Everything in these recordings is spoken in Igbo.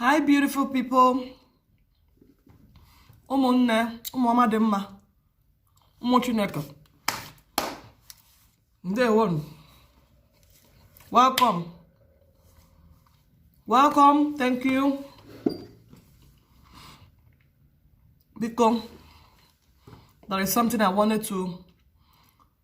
hi beautiful people ụmụnne ụmụ ọma dị mma ụmụ chineke ndewonụ welcome welcome thank you biko there is something i wanted to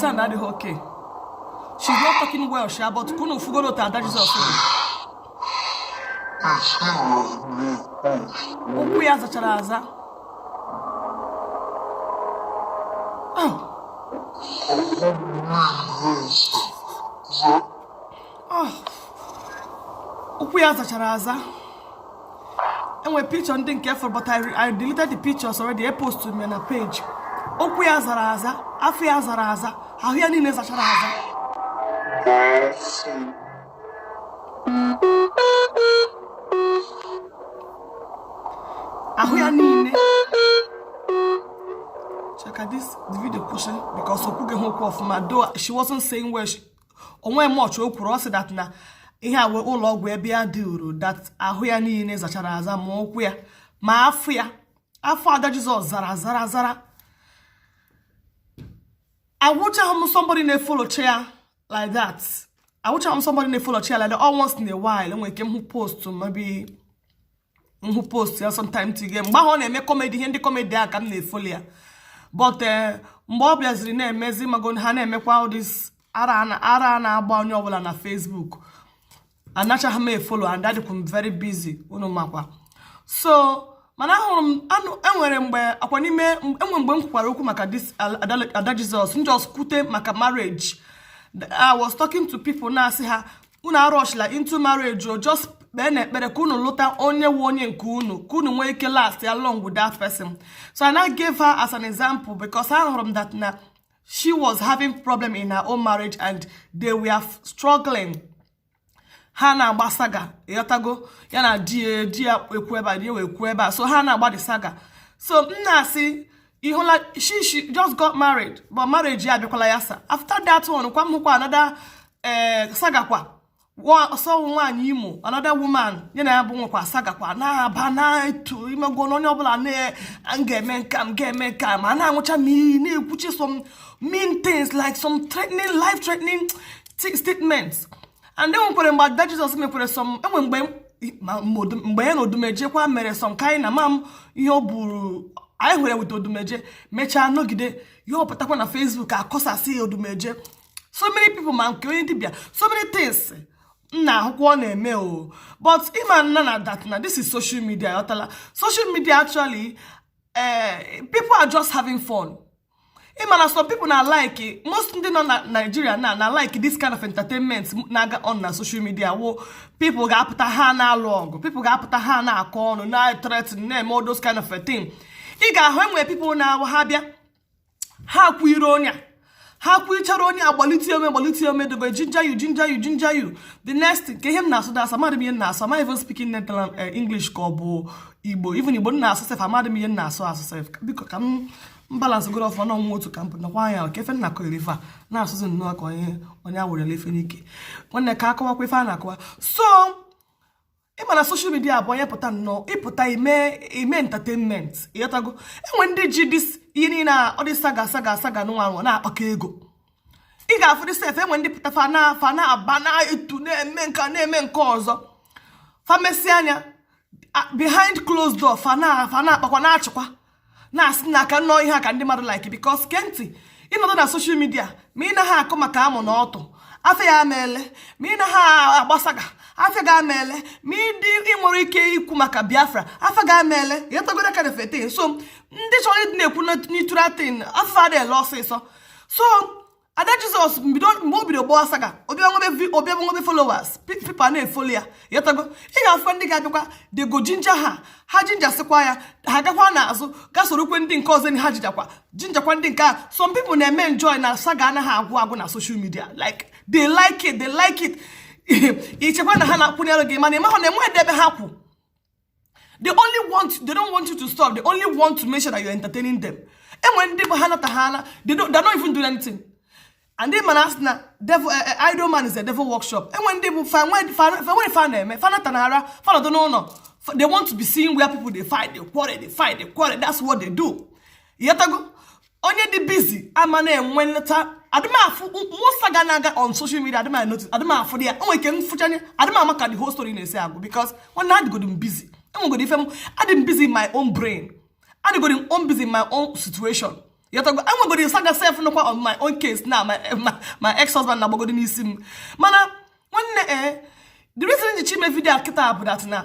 sound adịghị okay she's not talking well sha but ka unu fụgoro otu Ada Jesus ụkwụ ya zachara aza Oh. oh, ụkwụ ya zachara aza e nwe picture ndị nke fọrọ but I deleted the pictures already e post me na page ụkwụ ya zara aza afọ ya zara aza ahụ ya niile zachara aza ahụ ya niile check out this video kwụsị because o kwughị okwu ọfụma though she wasn't saying well she o nwe much o kwuru ọ sị that na ihe a wụ ụlọ ọgwụ ebe ya dị uru that ahụ ya niile zachara aza ma ụkwụ ya ma afọ ya afọ Ada Jesus zara zara zara awụchaghị m somebody na-efolocha ya like that awụchaghị m somebody na-efolocha ya like that all once in a while enwere ike m hụ post maybe m hụ post ya sometime tige mgbe ahụ ọ na-eme kọmedi ihe ndị kọmedi a ka m na-efolo ya but eh, mgbe ọ bịaziri na-emezi mago ha na-emekwa all this ara na-agba onye ọbụla na Facebook anachaghị m efolo and adịkwu m very busy unu makwa so mana ahụrụ m anụ enwere mgbe akwa n'ime enwe mgbe m kwukwara okwu maka this Ada Jesus m just kwute maka marriage I was talking to people na-asị ha unu arushila into marriage o just kpeenụ ekpere ka unu lụta onye wu onye nke unu ka unu nwee ike lastịa long with that person so i now gave her as an example because ahụrụ m that na she was having problem in her own marriage and they were struggling ha na-agba saga ịghọtago ya na di ya di ya ekwu ebe a di ya wee kwuo ebe a so ha na-agba the saga so m na-asị ị hụla she she just got married but marriage ya abịakwala yasa after that one kwa m hụkwa another eh, sagakwa so ọ wụ nwaanyị Imo another woman ya na ya bụ nwekwa sagakwa na-aba na-eto imego na onye ọbụla na m ga-eme nka m ga-eme nka ma na-aṅụcha m iyi na-ekwucha some mean things like some threatening life threatening statements and e nwekwere mgbe Ada Jesus mekwere some enwe mgbe mgbe ya na odumeje kwa mere some kind amam ihe ọ bụrụ ya nwere with odumeje mechaa nọgide ọ pụtakwa na Facebook akọsasị odumeje so many people ma nke onye dibịa so many things nna akwụkwọ ọ na-eme o but ị ma na na that na this is social media ịghọtala social media actually eh, people are just having fun ị ma na some people na like most ndị nọ na Nigeria na na like this kind of entertainment na-aga on na social media where people ga-apụta ha na-alụ ọgụ people ga-apụta ha na-akọ ọnụ na-threaten na-eme all those kind of a thing ị ga-ahụ enwe people na ha bịa ha kwuire onye ha kwuichara onye agbalite ome gbalite ome dey go ginger you ginger you ginger you the next nke ihe m na-asụ na asụ amadị m ihe m na-asụ ma even speaking Netherlands eh, English ka ọ bụ igbo even igbo m na-asụ sef amadị m ihe m na-asụ asụ sef biko ka m balance goro ọfụma na ọnwa otu ka m pụtakwa anya ka ife m na-akọrọ ife a na-asụzi nnọọ ka onye onye a werela ife n'ike nwanne ka akọwakwa ife a na-akọwa so ị ma na social media bụ onye pụta nnọọ ị pụta ime ime entertainment ịghọtago enwe ndị ji this ihe niile a ọ dị saga saga saga nụnwa na-akpakọ ego ị ga-afụdị sef enwe ndị pụta fa na fa na-aba na-etu na-eme nke na-eme nke ọzọ fa mesịa nya behind closed door fa na fa na-akpakwa na-achịkwa na-asị na aka nnọọ ihe a ka ndị mmadụ like because ke ntị ị nọdụ na social media ma ị naghị akọ maka amụ na ọtụ afịa gị ama ele ma ị naghị agba saga afịa gị ama ele ma ị dị i nwerọ ike ikwu maka Biafra afịa gị ama ele ịghọtagoro kind of a thing so ndị chọrọ ịdị na-ekwu neutral thing afịa adịghị ele ọsịsọ so Ada Jesus mgbe o bido gbaa saga ọ bịa nwebe followers people na-efolo ya ịghọtago ị ga-afụkwa ndị ga-abịakwa dey go ginger ha ha gingersịkwa ya ha gakwa n'azụ ga sorokwa ndị nke ọzọ ha gingerkwa gingerkwa ndị nke a some people na-eme enjoy na saga anaghị agwụ agwụ na social media like they like it they like it i chekwa na ha na-akwụnyere gị mana ị mahụ na enweghị ebe ha kwụ they only want they don't want you to stop they only want to make sure that you're entertaining them enwere ndị bụ ha nata ha ala they don't they're not even doing anything and ị ma na a sị na devil eh, eh, idle man is a devil workshop enwere ndị bụ fa enwerọ ife fa na-eme fa nata na ara fa nọdụ n'ụlọ they want to be seeing where people they fight they quarrel they fight they quarrel that's what they do ịghọtago onye dị busy ama na-enwe later adị m afụ most saga na-aga on social media adị m anotice adị m afụdị ya o nwere ike m fụcha nya adị m ama ka the whole story na-esi agwụ because nwanne adịgodo m busy enwegodo ife m adị m busy in my own brain adịgodo m own busy in my own situation ịghọtago enwegodo saga sef nọkwa on my own case na my ex husband na-agbagodo n'isi m mana nwanne ee eh, the reason m ji chọ ime video a kịta bụ that na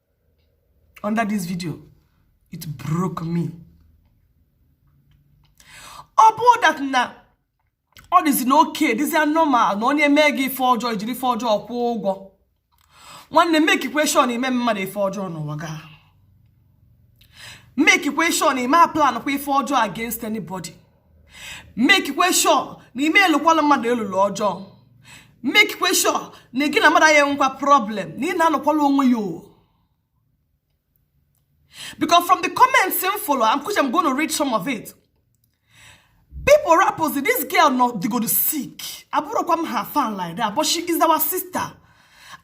under this video it broke me ọ bụrụ that na ọ dịzi na okay dịzia normal na onye mee gị ife ọjọọ jiri ife ọjọọ kwụọ ụgwọ nwanne makekwa sure na ị ma eme mmadụ ife ọjọọ n'ụwa gị a makekwa sure na ị ma aplankwa ife ọjọọ against anybody makekwa sure na ị ma elụkwala mmadụ elulu ọjọọ makekwa sure na gị na mmadụ ya enwekwa problem na ị na-anọkwala onwe ya o because from the comments m follow I'm kuche I'm going to read some of it people rappers this girl na ọ dịgodu sick abụrọkwa m her fan like that but she is our sister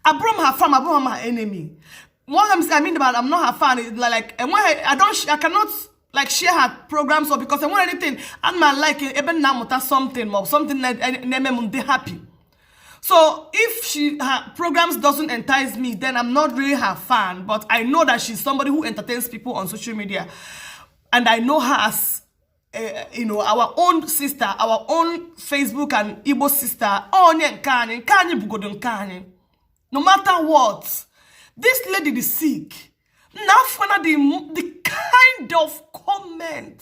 abụrọ m her fan abụrọ m her enemy what I mean about I'm not her fan like enweghị I don't I cannot like share her programs or because enwerọ anything a na m alike ebe m na-amụta something maọbụ something na-eme m m dị happy so if she her programs doesn't entice me then i'm not really her fan but i know that she's somebody who entertains people on social media and i know her as uh, you know our own sister our own facebook and igbo sister onye nke anyị nke anyị bụgodu nke anyị no matter what this lady is sick na afọ na the kind of comment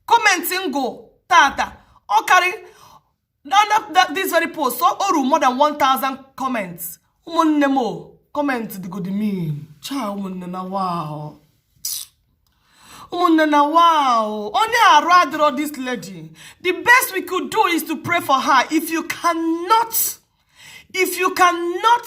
comment m gụ tata ọ karị this very post o oru more than 1000 comments ụmụnne m comment dịgodi mean cha ụmụnne na wa o ụmụnne na wa o onye arụ adịrọ this lady the best we could do is to pray for her if you cannot if you cannot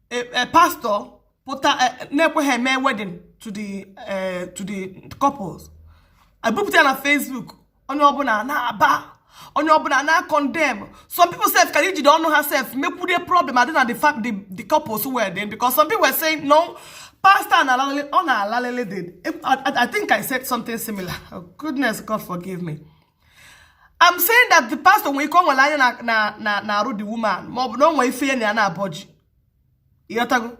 e, e, pastọ pụta e, na-ekweghị eme wedding to the to the couples e bupụta ya na Facebook onye ọbụla na-aba onye ọbụla na-acondemn some people sef kara ijide ọnụ ha sef mekwurie problem adị na the couples were then because some people were saying no pastor na-alalele ọ na-alalele I think I said something similar oh, goodness God forgive me I'm saying that the pastor nwere ike o nwere anya na na na arụ the woman ma ọ bụ na o nwere ife ya na ya na-abọji ị ghọtago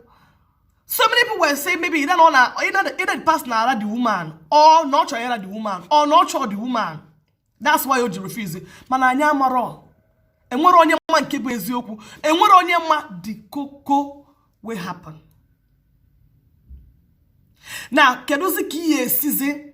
so many people were saying maybe either ọ na either the pastor na-ara the woman or na ọ chọrọ ịra the woman or na ọ chọrọ the woman that's why o ji refuse mana anyị amarọ enwerọ onye ma nke bụ eziokwu enwerọ onye ma the koko wey happen na kedụzi ka ihe esizi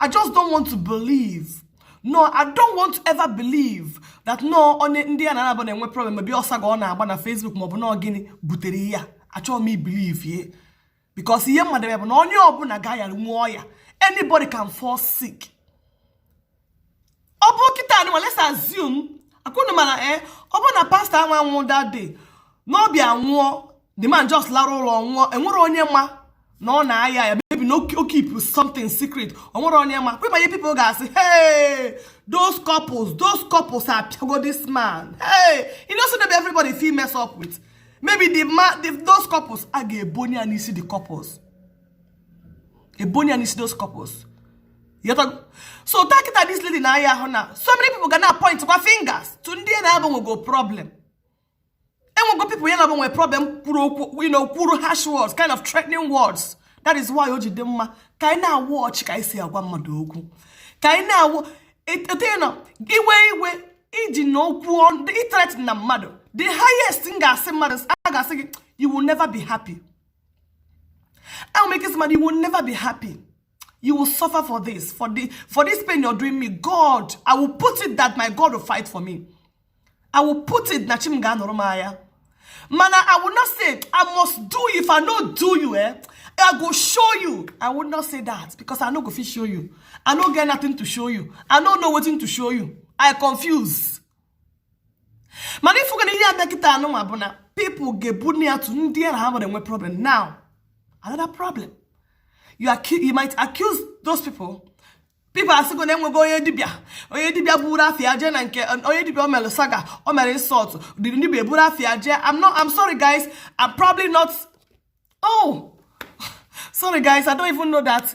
I just don't want to believe. No, I don't want to ever believe that na ọ onye ndị ya na ha nabụ na-enwe problem maybe ọ saga ọ na-agba na Facebook maọbụ na gịnị butere ihe a achọghị m ibelieve ye because ihe m madụ bụ na onye ọbụla ga-ayanwu ọya anybody can fall sick ọ bụ kịta anụnwa let's assume akwụnụ mana e eh, ọ bụ na pastor anwa anwụ that day na ọ bịa nwụọ the man just lara ụlọ nwụọ enwere onye ma na ọ na-aya aya maybe na o keep something secret o nwere onye ma kwe ma ihe people ga-asị hey those couples those couples apịago this man hey you know so that everybody fit mess up with maybe the man the, those couples a ga-ebonye ya n'isi the couples ebonye ya n'isi those couples so take kịta this lady na-aya ahụ now so many people ga na point kwa fingers to ndị ya na ha bu nwego problem enwego people ya na ha bu nwe problem kwuru okwu you know kwuru harsh words kind of threatening words that is why o ji dị mma ka anyị na-awatch ka anyị si agwa mmadụ okwu ka anyị na-awụ etenye na iwe iwe iji na okwu ịthreaten mmadụ the highest thing m ga-asị mmadụ a ga-asị gị you will never be happy I will make this money. You will never be happy. You will suffer for this. For, the, for this pain you're doing me. God, I will put it that my God will fight for me. I will put it na chim ga nụrụ m anya. Mana I will not say I must do you if I no do you eh. I go show you. I will not say that because I no go fit show you. I no get nothing to show you. I no know wetin to show you. I confuse. mana ị fụgo na ihe abịa kịta anụnwa bụ na people ga-ebonye ya to ndị ya na ha bu nwe problem now another problem you, you might accuse those people people asịgo na enwego onye dibịa onye dibịa buru afia jee na nke onye dibịa o mere saga o mere insult dịrị ndị dibịa eburu afia jee I'm not I'm sorry guys I'm probably not oh sorry guys I don't even know that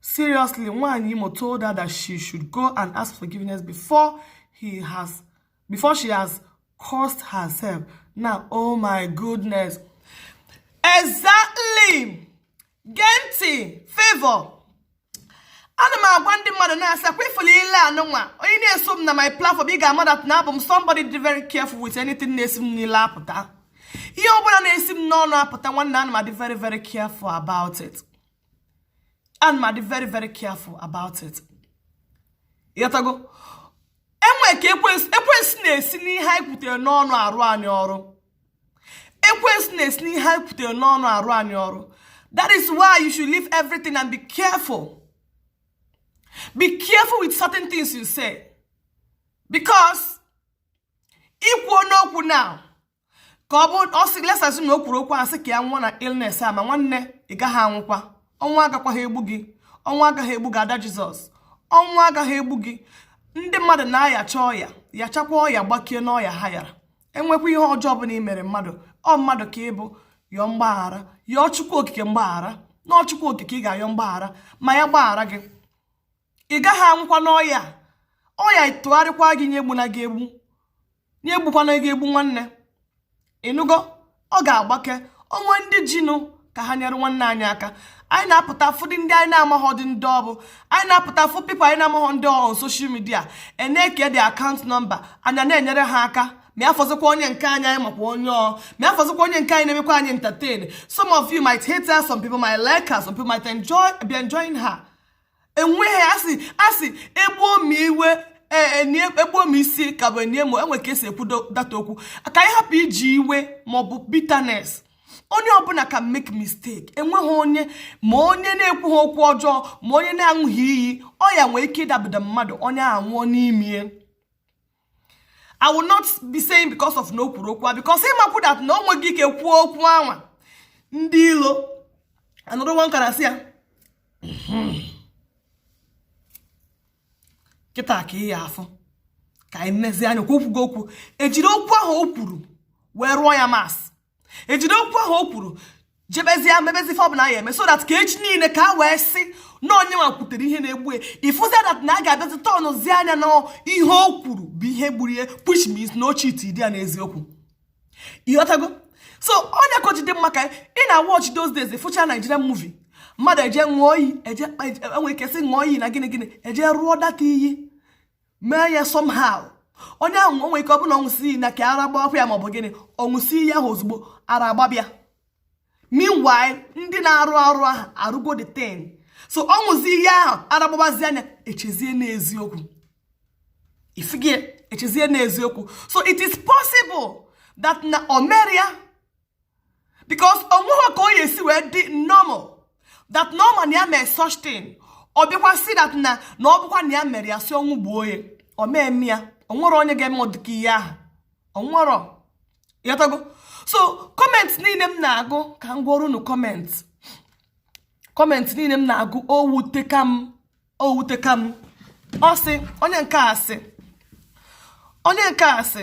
Seriously, Nwanyị Imo told her that she should go and ask forgiveness before he has before she has cursed herself. Now, oh my goodness. Exactly. Gee ntị, Favour. ana m agwa ndị mmadụ na-asị ọ kwa ị fụlụ ile anụnwa onye na-eso m na my platform ị ga-ama that na abụ m somebody dị very careful with anything na-esi m n'ile apụta ihe ọ bụla na-esi m n'ọnụ apụta nwanne ana m adị very very careful about it ana m adị very very careful about it ịghọtago enwe ka ekwensu na-esi n'ihe anyị kwutere n'ọnụ arụ anyị ọrụ ekwensu na-esi n'ihe anyị kwutere n'ọnụ arụ anyị ọrụ that is why you should leave everything and be careful be careful with certain things you say because ikwu n'okwu now ka ọ bụ let's assume na o kwuru okwu asị ka ya nwụọ na illness a ma nwanne ị gaghị anwụkwa ọnwa agakwaghị egbu gị ọnwa agaghị egbu gị ada Jesus ọnwa agaghị egbu gị ndị mmadụ na-ayacha ọya yachakwa ọya gbakie n'ọya ha yara enwekwa ihe ọjọọ ọ bụla i mere mmadụ ọ mmadụ ka ị bụ yọọ mgbaghara yọọ chukwu okike mgbaghara na ọ chukwu okike ị ga-ayọ mgbaghara ma ya gbaghara gị ị gaghị anwụkwa n'ọya ọya tụgharịkwa gị nya egbuna gị egbu nya egbukwana gị egbu nwanne ịnụgo ọ ga-agbake onwe ndị jinụ ka ha nyere nwanne anyị aka anyị na-apụta afụdị ndị anyị na-amaghọdị ndị ọ bụ anyị na-apụta afụ people anyị na-amaghọ ndị ọ bụ na social media enyekwa the account number anyị ana-enyere ha aka ma ya fọzikwa onye nke anyị anyị makwa onye ọ ma ya fọzikwa onye nke anyị na-emekwa anyị entertain some of you might hate her some people might like her some people might enjoy be enjoying her enweghị asị asị egbuo m iwe egbuo m isi ka bụ enyi m onwe ka esi ekwu that okwu ka anyị hapụ iji iwe maọbụ bitterness onye ọbụla can make mistake enweghị onye ma onye na-ekwughị okwu ọjọọ ma onye na-aṅụghị iyi ọya nwee ike ịdabido mmadụ onye anwụọ n'ime i will not be saying because of na o kwuru okwu a because ị makwa that na o nweghị ike kwuo okwu a nwa ndị ilo anọdụ wee kara sị ya kịta ka ị ya-afụ ka anyị mezie nya o kwugo okwu ejiri okwu ahụ o kwuru wee rụọ ya masị ejide okwu ahụ o kwuru jebezie mebezie ife ọbụla a ya-eme so that ka echi niile ka a wee sị na onye nwa kwutere ihe na-egbu ya ịfụzia that na a ga-abịazi turnụzia nya na ihe o kwuru bụ ihe gburu ya which means na o cheatiri ya n'eziokwu ịghọtago so ọ nya ka o ji dị mma ka ị na-awatch those days fụcha Nigerian movie mmadụ eje ṅụọ iyi eje enwere ike sị ṅụọ iyi na gịnị gịnị eje rụọ that iyi mee ya somehow onye ahụ o nwere ike ọ bụrụ na o wee sị na ka ara gbakwa ya maọbụ gịnị ọ ṅụsịa ihe ahụ ozugbo ara agbaba ya meanwhile ndị na-arụ arụ ahụ arụgo the thing so ọ ṅụzi ihe ahụ ara agbabazia nya echezie n'eziokwu ịfụgo ya echezie n'eziokwu so it is possible that na o mere ya because onweghị ka onye si wee dị normal that na ọ ma na ya mere such thing ọ bịakwa sị that na na ọ bụkwa na ya mere ya sị ọnwụ gbuo ya ọ meeme ya onwerọ onye ga-eme ọdịka ihe ahụ onwerọ ịghọtago so comment niile m na-agụ ka m gwa unu comment comment niile m na-agụ o wuteka m o wuteka m ọ sị onye nke a sị onye nke a sị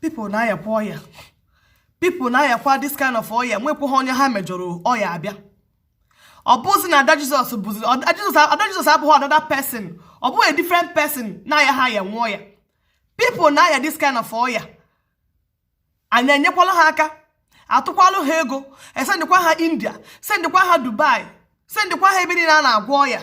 people na-ayakwa ọya people na-ayakwa this kind of ọya enwekwaghị onye ha mejọrọ ọya abịa ọ bụzi na ada jesus bụzi ada jesus abụghị another person ọ bụghị a different person na-ayaha aya ọya people na-aya this kind of ọya anyị enyekwala ha aka atụkwalụ ha ego esendịkwa ha india sendịkwa ha dubai sendịkwa ha ebe niile a na-agwọ ọya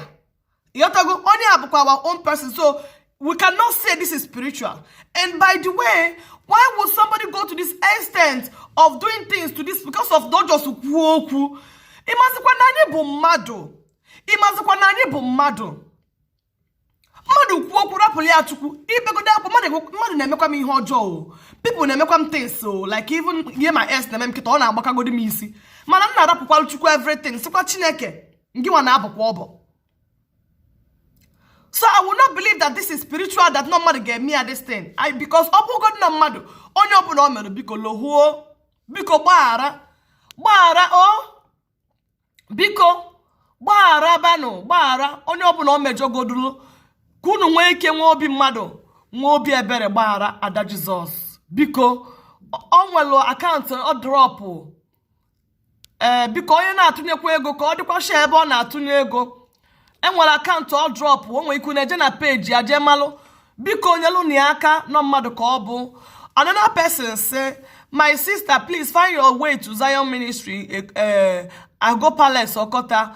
ịghọtago onye a bụkwa our own person so we cannot say this is spiritual and by the way why would somebody go to this extent of doing things to this because of na ọ just kwuo okwu ịmazikwa na anyị bụ mmadụ ịmazikwa na anyị bụ mmadụ mmadụ kwuo okwu rapụlụ ya chukwu ibegodo akwa mmadụ na-emekwa m ihe ọjọọ o people na-emekwa m things o like even ihe my ex na-eme m kịta ọ na-agbakagodi m isi mana m na-arapụkwalụ chukwu everything sikwa chineke ngịnwa na-abọkwa ọbọ so i will not believe that this is spiritual that nọ mmadụ ga-eme ya this thing because ọ bụgodị na mmadụ onye ọbụla o mere biko lohuo biko gbaghara gbaghara o biko gbaghara banụ gbaghara onye ọbụla o mejọgodulu ka unu nwee ike nwee obi mmadụ nwee obi ebere gbaghara ada jesus biko o nwelu account ọ dropụ ee biko onye na-atụnyekwa ego ka ọ dịkwa sure ebe ọ na-atụnye ego enwere account ọ dropụ o nwee ike unu eje na page ya jee malụ biko nyelụnụ ya aka nọ mmadụ ka ọ bụ another person say my sister please find your way to zion ministry eh, eh, ago palace okota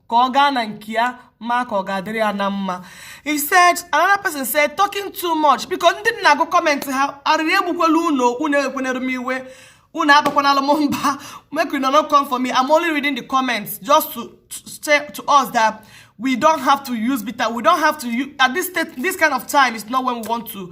ka ọ gaa na nke ya ma ka ọ ga-adịrị ya na mma he said another person said talking too much biko ndị m na-agụ comment ha arịrị egbukwala unu unu ewekwenere m iwe unu abakwanala m mba make you no come for me i'm only reading the comments just to say to us that we don't have to use bitter we don't have to use at this state this kind of time it's not when we want to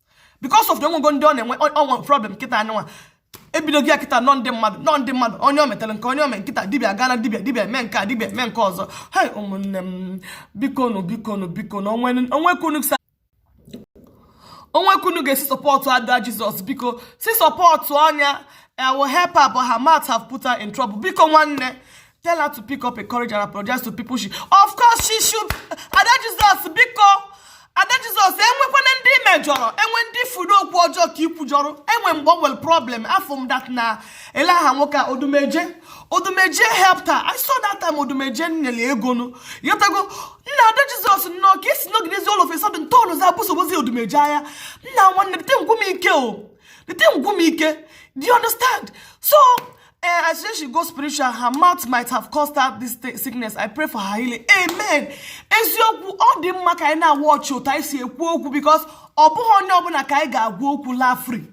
because of na enwego ndị ọ na-enwe ọnwa problem kịta anyanwa ebidogo ya kịta nọ ndị mmadụ nọ ndị mmadụ onye o metere nke a onye o me kịta dibịa gaa na dibịa dibịa mee nke a dibịa mee nke ọzọ hei ụmụnne m bikonu bikonu bikonu o nwee ka unu sa o nwee ka unu ga-esi supportụ ada jesus biko si supportụọnụ ya I will help her but her mouth have put her in trouble biko nwanne Tell her to pick up a courage and apologize to people she... Of course she should. Ada Jesus, biko. Ada Jesus, enwekwana ndị i mejọrọ, enwe ndị ụfọdụ okwu ọjọọ ka i kwujọrọ, enwe mgbe o nwere problem, afụ m that na elee aha nwoke a Odumeje. Odumeje helped her. I saw that time Odumeje nyere ego nụ. Ịghọtago, nna Ada Jesus nọ ka e si nọgidezi all of a sudden turnụzịa busobezi Odumeje aya. Nna nwanne, the thing gwụ m ike o. The thing gwụ m ike. Do you understand? So, Eh, I suggest she go spiritual. Her mouth might have caused her this sickness. I pray for her healing. Amen. Eziokwu ọ dị mma ka anyị na-awatch otu anyị si ekwu okwu because ọ bụghị onye ọbụla ka anyị ga-agwa okwu laa free.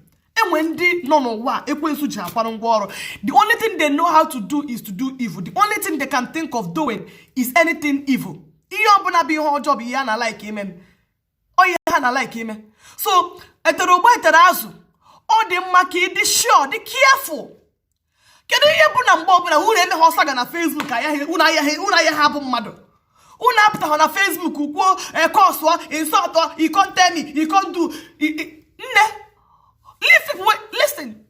enwe ndị nọ n'ụwa ekwensu ji akwara ngwa ọrụ the only thing they know how to do is to do evil the only thing they can think of doing is anything evil ihe ọbụla bụ ihe ọjọọ bụ ihe ha na-alike ime ihe ha na like ime so etere ụgba etere azụ ọ dị mma ka ị dị sure dị careful kedu ihe bụ na mgbe ọbụla unu emeghị saga na Facebook ayaghị unu ayaghị unu ayaghị abụ mmadụ unu apụtaghị na Facebook kwuo ekọsụọ insult you can't tell me you can't do nne listen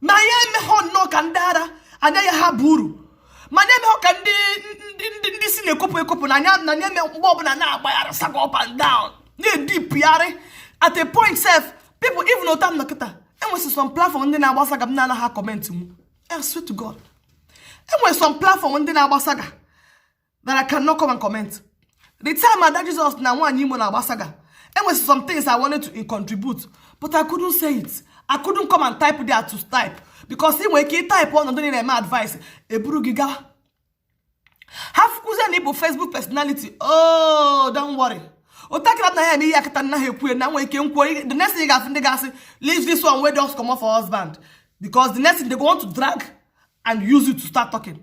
ma anyị emeghọ nnọọ ka ndị ara anyị ayaghị abụrụ ma anyị emeghọ ka ndị ndị ndị isi na-ekopụ ekopụ na anyị na anyị eme mgbe ọbụla na-agbaghara saga up and down na-edipụgharị at a point sef people even otu m nọ kịta enwesị some platform ndị na-agba saga m na-anaghị comment m I swear to God enwere some platform ndị na-agba saga that I cannot come and comment. The time Ada Jesus na nwaanyị Imo na-agba saga, e nwere some things I wanted to contribute, but I couldn't say it. I couldn't come and type there to type because ị nwere ike ịtaịpụ ọnọdụ niile eme advice eburu gị gawa. Ha fụkwuzie na ị bụ Facebook personality, oh, don't worry. ntakịrị a na ya eme ihe a kịta nna ha ekwuye na nwere ike nkwuo the next thing they go say they go say leave this one wey just comot for husband because the next thing they go want to drag and use it to start talking.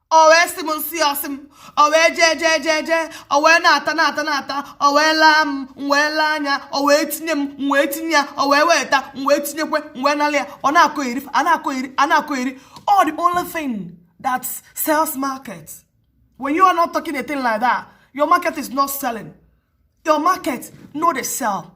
o wee sị m m sị ọ sị m o wee jee jee jee jee o wee na-ata na-ata na-ata o wee laa m m wee laa anya o wee tinye m m wee tinye ya o wee weta m wee tinyekwe m wee nalị ya ọ na-akọheri a na-akọheri a na-akọheri ọ the only thing that sells market when you are not talking a thing like that your market is not selling your market no dey sell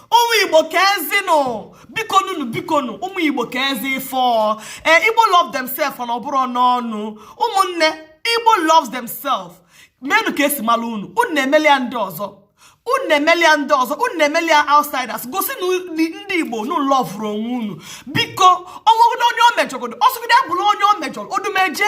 ụmụ igbo ka ezi nụ bikonu nụ bikonu ụmụ igbo ka ezi fụ ee eh, igbo love themselves na ọ bụrọ n'ọnụ ụmụnne igbo loves themselves menụ ka e si malụ unu unu na-emeli ya ndị ọzọ unu na-emeli ya ndị ọzọ unu na-emeli ya outsiders gosi na ndị igbo unu lọvụrụ onwe unu biko o nwegodi onye o mejọgodo ọ sọgodi bụrụ onye o mejọrọ odumeje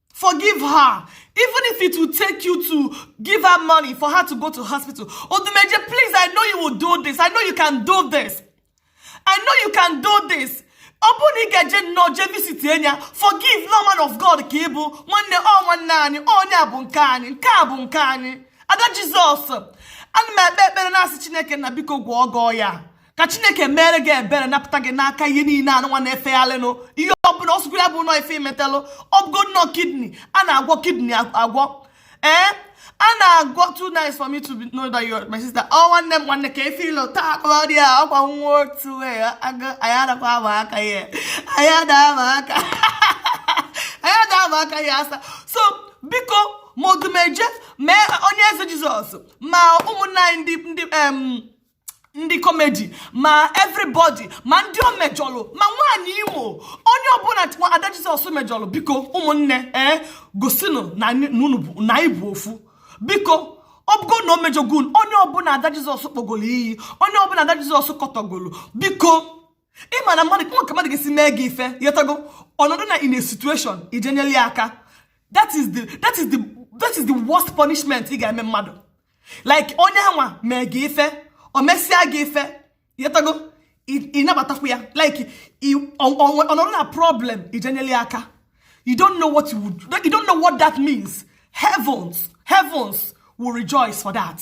forgive her even if it will take you to give her money for her to go to hospital odumeje please i know you will do this i know you can do this i know you can do this ọ bụrụ na ị ga-eje nnọọ jee visitie ya forgive na ọ man of god ka ị bụ nwanne ọ nwanne anyị onye a bụ nke anyị nke a bụ nke anyị ada jizọs ana m ekpe ekpere na-asị chineke na biko gwọọ gwọọ ya ka chineke mere gị ebere napụta gị n'aka ihe niile anụnwa na-efegharịnụ ihe ọbụla ọ sọkwara bụ na ọ ife i metalụ ọ bụgo na ọ kidney a na-agwọ kidney agwọ ee a na-agwọ too nice for me to know that you're my sister ọ nwanne m nwanne ka efe ilo taa akpọrọ ya ọkwa nwa otu anyị adakwa ama aka ya anyị ada ama aka anyị ada ama aka ya asa so biko ma odumeje ma onye eze jizọs ma ụmụnna anyị ndị ndị ndị komedi ma everybody ma ndị o mejọlụ ma nwaanyị imo onye ọbụla ada jizọs mejọlụ biko ụmụnne ee eh, gosinụ na anyị- na unu bụ- na anyị bụ ofu biko ọ bụgo na o mejọgo unu, onye ọbụla ada jizọs kpọgolo iyi onye ọbụla ada jizọs kọtọgolo biko ị ma na mmadụ nwee ka mmadụ ga-esi mee gị ife ị ghọtago ọ nọdụ na in a situation i jee nyelụ ya aka that is the that is the that is the worst punishment ị ga-eme mmadụ like onye nwa mee gị ife o mesịa gị ife ị ghọtago ị nabatakwu ya like ọ nọdụ na problem i jee nyelụ ya aka you don't know what you would you don't know what that means heavens heavens will rejoice for that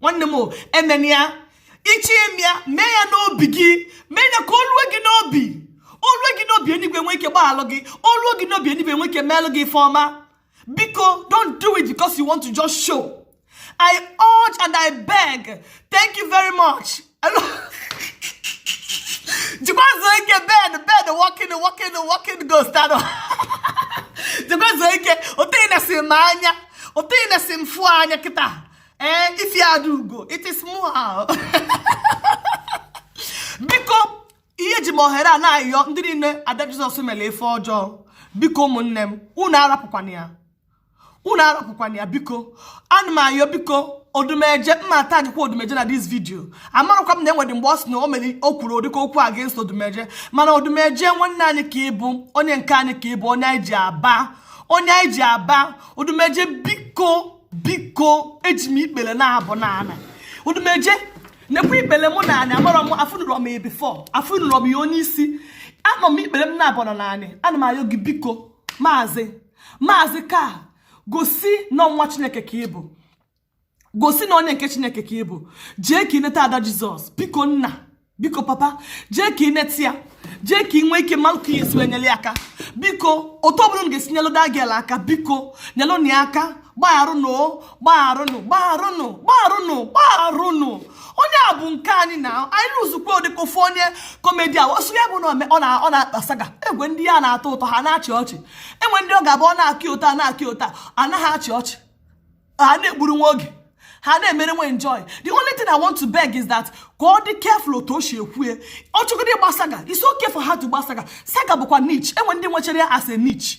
nwanne m emena ya ị chọ ime ya mee ya n'obi gị mee ya ka o lue gị n'obi o lue gị n'obi enigwe nwee ike gbaalụ gị o lue gị n'obi enigwe nwee ike meelụ gị ife ọma biko don't do it because you want to just show i urge and i beg thank you very much jikwazuo ike bed bed walking walking walking ghost anụ jikwazuo ike otu ị na-esi m anya otu ị na-esi m fụ anya kịta ee ifi ada ugo it is mụ ahụ biko ihe eji m ohere a na-ayọ ndị niile ada jizọs melụ ife ọjọọ biko ụmụnne m unu arapụkwana ya unu arapụkwana ya biko ana m ayọ biko odumeje m ma tag kwa odumeje na this video amarakwa m na enwere mgbe ọ sị na o mere o kwuru ọ dịka okwu against odumeje mana odumeje nwanne anyị ka ịbụ onye nke anyị ka ịbụ onye anyị ji aba onye anyị ji aba odumeje biko biko eji m ikpele naabọ n'ana odumeje nekwa ikpele mụ n'ana amarọ m afụnụrọ m ya before afụnụrọ m ya onye isi anọ m ikpele m naabọ n'ana ana m ayọ gị biko maazị maazị ka gosi na nwa chineke ka ị bụ gosi na onye nke chineke ka ị bụ jee ka i neta ada jizọs biko nna biko papa jee ka i neta ya jee ka ị nwee ike malụ ka ị ya-esi wee nyelụ ya aka biko otu ọbụla unu ga-esi nyelụ that girl aka biko nyelụnụ ya aka gbagharụnụ gbagharụnụ gbagharụnụ gbagharụnụ gbagharụnụ onye a bụ nke anyị na anyị lụzukwa ọ dịka ofu onye comedian ọ sọ ya bụ na ọ na-agba saga enwe ndị ya na-atọ ụtọ ha na-achị ọchị enwe ndị ọ ga-abụ ọ na-akị ụta na-akị ụta anaghị achị ọchị ha na-egburu nwa oge ha na-emere nwe enjoy the only thing i want to beg is that ka ọ dị careful otu o si ekwue ọ chọgide ịgba saga it's okay for her to gba saga saga bụkwa niche enwe ndị nwechara ya as a niche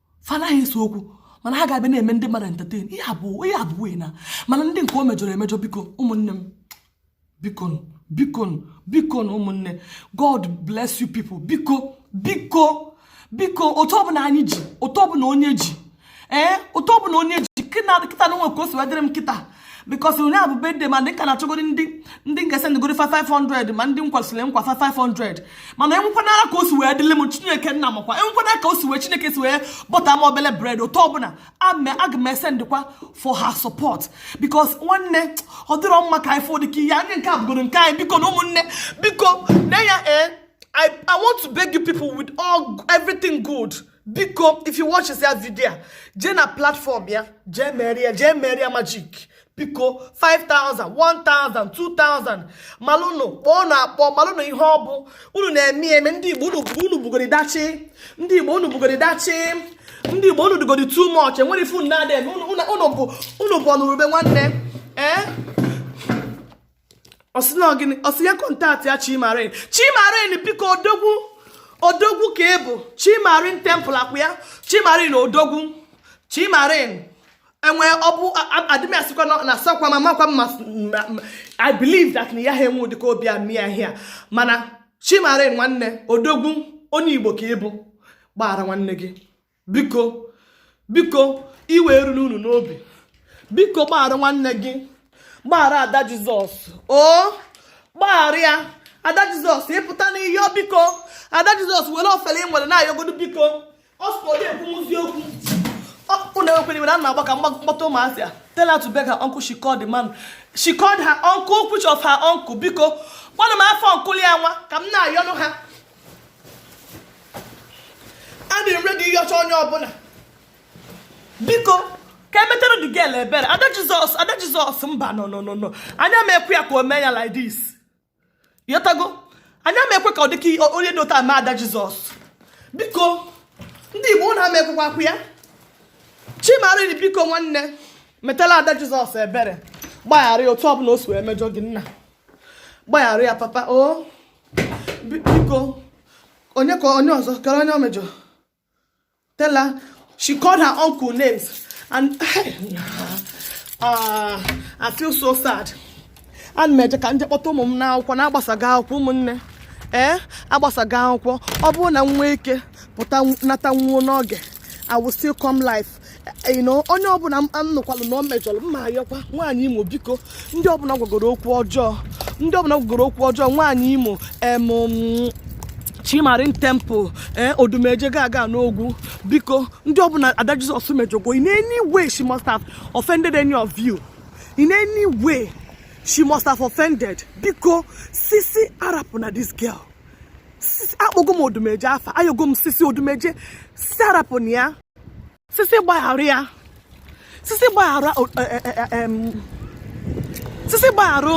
fa anaghị ese okwu mana ha ga-abịa na-eme ndị mmadụ entertain ihe abụọ ihe abụọ na mana ndị nke o mejọrọ emejọ biko ụmụnne m bikonụ bikonụ bikonụ ụmụnne god bless you people biko biko biko otu ọbụla anyị ji otu ọbụla onye ji ee eh, otu ọbụla onye ji kịta na o nwe ka o si wee dịrị m kịta because onye a bụ bedde ma ndị ka na-achọgodi ndị ndị nke sendịgori 500 ma ndị kwesịrị nkwa 500 mana enwekwanara ka o si wee dịle m chineke nna makwa enwekwana ka o si wee chineke si wee bọta m obele bread otu ọbụla aga m esendịkwa for her support because nwanne ọ dịrọ mma ka anyị fụ dị ka ihe anyị nke a bụgoro nke anyị bikonụ ụmụnne biko na ya ee eh, I, I want to beg you people with everything good biko if you watch this video jee na platform ya jee mere ya jee mere ya magic biko 5000 1000 2000 malụnụ kpọọnụ akpọ malụnụ ihe ọ bụ unu na-eme eme ndị igbo unu bugori dachi ndị igbo unu bugori dachi ndị igbo unu dịgodi too much enwere ife unu na-adị eme unu bụ ọnụrụ ube nwanne ee eh? ọ sị na ọ gịnị ọ sị ya contact ya chi marine chi marine biko odogwu odogwu ka ị bụ chi marine temple akwụ ya chi marine odogwu chi marine enwe ọ bụ adịm asịkwa na asakwa ma makwa mma i believe that na ya ha enwe ụdịka obi amị ya hia mana chi marine nwanne odogwu onye igbo ka ị bụ gbaghara nwanne gị biko biko iwe eruna unu n'obi biko gbaghara nwanne gị gbaghara ada jizọs o gbaghara ya ada jizọs ị pụta n'ihe biko ada jizọs were ofele ị nwere na-ayọgodo biko ọ sụkwa onye ekwumuzi okwu ọkpụkpụ na-ekwere iwere a na-agba ka m kpọta ụmụazị I tell her to beg her uncle she called the man she called her uncle which of her uncle biko kpọọrọ m afa uncle ya nwa ka m na-ayọnụ ha adị m ready ịyọcha onye ọbụla biko ka e metere the girl ebere ada jizọs ada jizọs mba no no no no anyị ama ekwe ya ka o mee ya like this ị ghọtago anyị ama ekwe ka ọ dịka onye dị ụta ada jizọs biko ndị igbo na ama ekwekwa akwụ ya chi marine biko nwanne metela ada jizọs ebere gbaghara ya otu ọbụla o si wee mejọ gị nna gbaghara ya papa o biko onye ka onye ọzọ kara onye o mejọ tell her she called her uncle names and uh, I feel so sad ana m eje ka m je kpọta ụmụ m n'akwụkwọ na agbasago akwụkwọ ụmụnne ee eh, agbasago akwụkwọ ọ bụrụ na m nwee ike pụta natanwuo n'oge I will still come live you know onye ọbụla m nụkwalụ na o mejọrọ m ma ayọkwa nwaanyị imo biko ndị ọbụla ọ gwagoro okwu ọjọọ ndị ọbụla ọ gwagoro okwu ọjọọ nwaanyị imo em chi marine temple ee eh, odumeje gaga n'ogwu biko ndị ọbụla ada jizọs mejọgwo in any way she must have offended any of you in any way she must have offended biko sisi arapụna this girl akpọgo m odumeje afa ayọgo m sisi odumeje sisi arapụna ya sisi gbaghara ya sisi gbaghara e, e, e, sisi gbaghara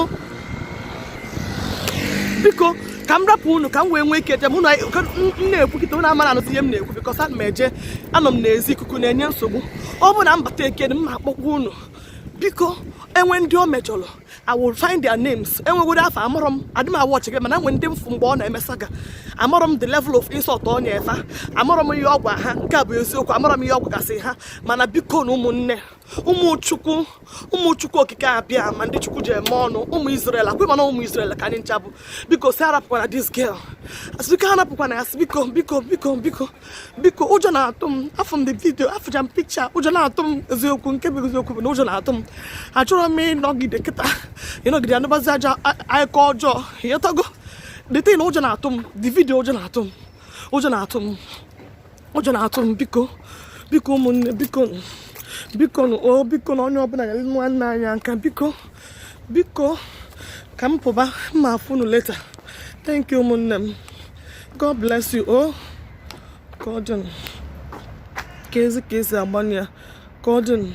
biko ka m rapụ unu ka m wee nwee ike jee mụ na-ekwu kịta unu amara anụzi ihe m na-ekwu because ana m eje anọ m n'ezi ikuku na-enye nsogbu ọ bụrụ na m bata ekene m ma-akpọkwa unu biko e nwee ndị o mejọrọ I will find their names enwegodo afọ amarọ m adị m a-watch gị mana e nwee ndị m fụ mgbe ọ na-eme saga amarọ m the level of insult ọ na-efe ha amarọ m ihe ọ gwa ha nke a bụ eziokwu amarọ m ihe ọ gwagasị ha mana biko nụ ụmụnne ụmụ Chukwu ụmụ Chukwu Okike Abịama ndị Chukwu ji eme ọnụ ụmụ Israel ekwe m na ụmụ Israel ka anyị ncha bụ biko sị arapụkwana this girl asị biko arapụkwana ya biko biko biko biko biko ụjọ na-atụ m afụ m the video afụcha m picture ụjọ na-atụ m eziokwu nke bụ eziokwu bụ na ụjọ na-atụ m achọrọ m ịnọgide kịta ịnọgide anụbazi ajọ akụkọ ọjọọ ịghọtago the thing a ụjọ na-atụ m the video ụjọ na-atụ m ụjọ na-atụ m ụjọ na-atụ m biko biko ụmụnne biko biko o biko nụ onye ọbụla nyere nwanne anyị aka biko biko ka m pụba m ma-afụ unu later thank you ụmụnne m God bless you oh Gordon ka ezi ka esi agbanye ya Gordon